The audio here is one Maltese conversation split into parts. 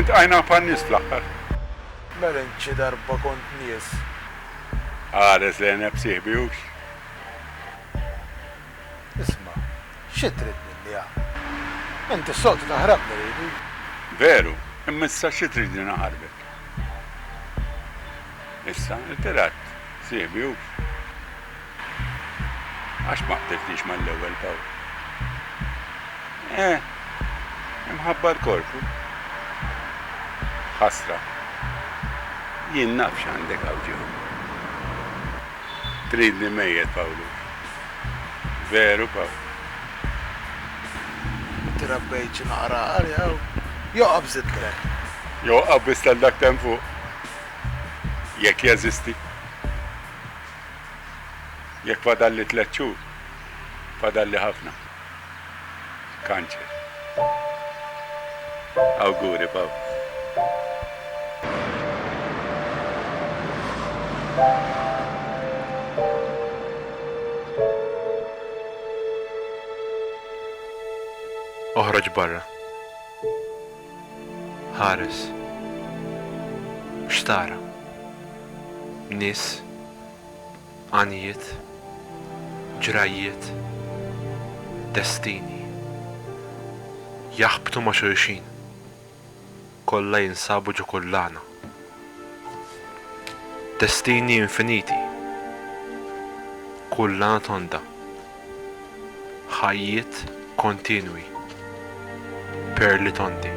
Intqajna pan-nies fl-aħħar. Mela int xi darba kont nies? Qares lejn nefsi ħbiewx. Isma', xi trid minni ha? Int is-soltu taħrabni ridi. Veru, imma issa xi tridni naħarbek? Issa, irtirat, sieħbi hux. Għax ma qtelltnix mal-ewwel Pawl. Eh, imħabba l-korpu. Ħasra. Jien naf x'għandek hawn ġew. Tridni mejjet, Pawlu. Veru, Pawl. Trabbejt xi naqra għari hawn. Joqgħob żid tren. Joqgħob biss tal dak temm fuq. Jekk jeżisti. Jekk fadalli tliet xhur, fadalli ħafna. Kanċer. Awguri, Pav. Oħroġ barra. Ħares. X'tara? Nies, għanjiet, ġrajjiet, destini. Jaħbtu ma' xulxin. Kollha jinsabu ġo kullana. Destini infiniti, kull anatonda, ħajjiet kontinwi, perli tondi.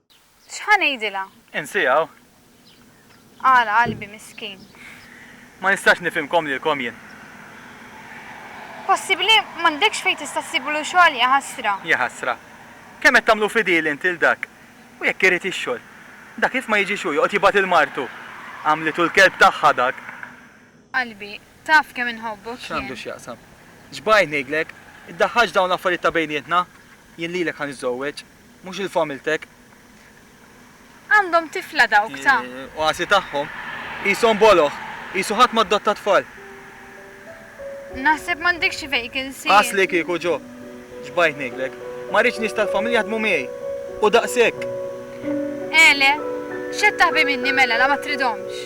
X'ħa ngħidilha? Insiha hawn. Għala qalbi miskin. Ma nistax nifhimkom lilkom jien. Possibbli m'għandekx fejn tista' ssiblu xogħol jaħasra. Jaħasra. Kemm qed tagħmlu fidil int lil dak. U jekk irid ix-xogħol. Dak kif ma jiġix hu joqgħod jibgħat lil martu. Għamlitu l-kelb tagħha dak. Qalbi, taf kemm inħobbok jien. X'għandu x'jaqsam. X'bajt ngħidlek. Iddaħħalx dawn l-affarijiet ta' bejnietna. Jien lilek ħa niżżowweġ. Mhux il-familtek. Għandhom tifla dawk ta'. Oasi tagħhom. Qishom boloh. Qisu ħadd m'addotta tfal. Naħseb m'għandekx vacancy. Qas li kieku, Jo. Xbajt ngħidlek. Ma rridx nies tal-familja jaħdmu miegħi. U daqshekk. Ele, x'qed taħbi minni mela la ma tridhomx?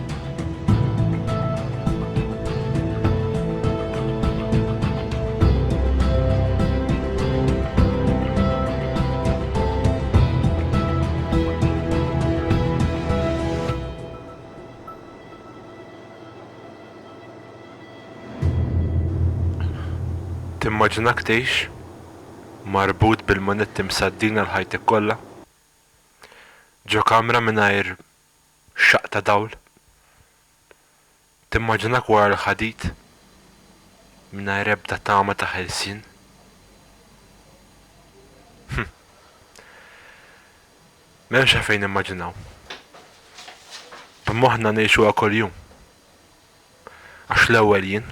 Timmaġinak tgħix marbut bil-manetti msaddin għal ħajtek kollha? Ġo kamra mingħajr xaqq ta' dawl? Timmaġinak wara l-ħadid, mingħajr ebda tama ta' ħelsien? Hm. M'hemmx għalfejn nimmaġinaw. B'moħħna ngħixuha kuljum. Għax l-ewwel jien.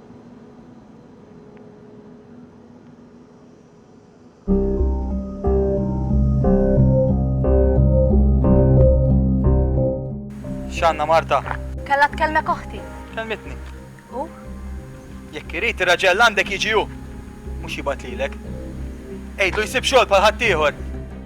X'għandna Marta? Kellha tkellmek oħti. Kelmitni. U? Jekk irid ir-raġel għandek jiġi hu. Mhux jibgħat lilek. Għidlu jsib xogħol bħal ħaddieħor.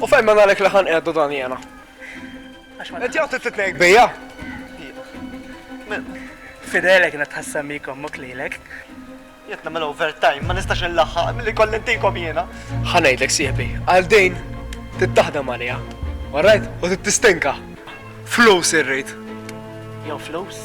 U fejn minn għalhekk li ħa nqiegħdu dan jiena? Inti jew trid titnejk bija? Fidele kienet tħassem bik ommok lilek. Jekk nagħmel overtime ma nistax inlaħħaq milli kolli ntikom jiena. Ħa ngħidlek sieħbi, għal din trid taħdem għaliha. Alright? U trid tistinka. Flus irrid. Jew flus?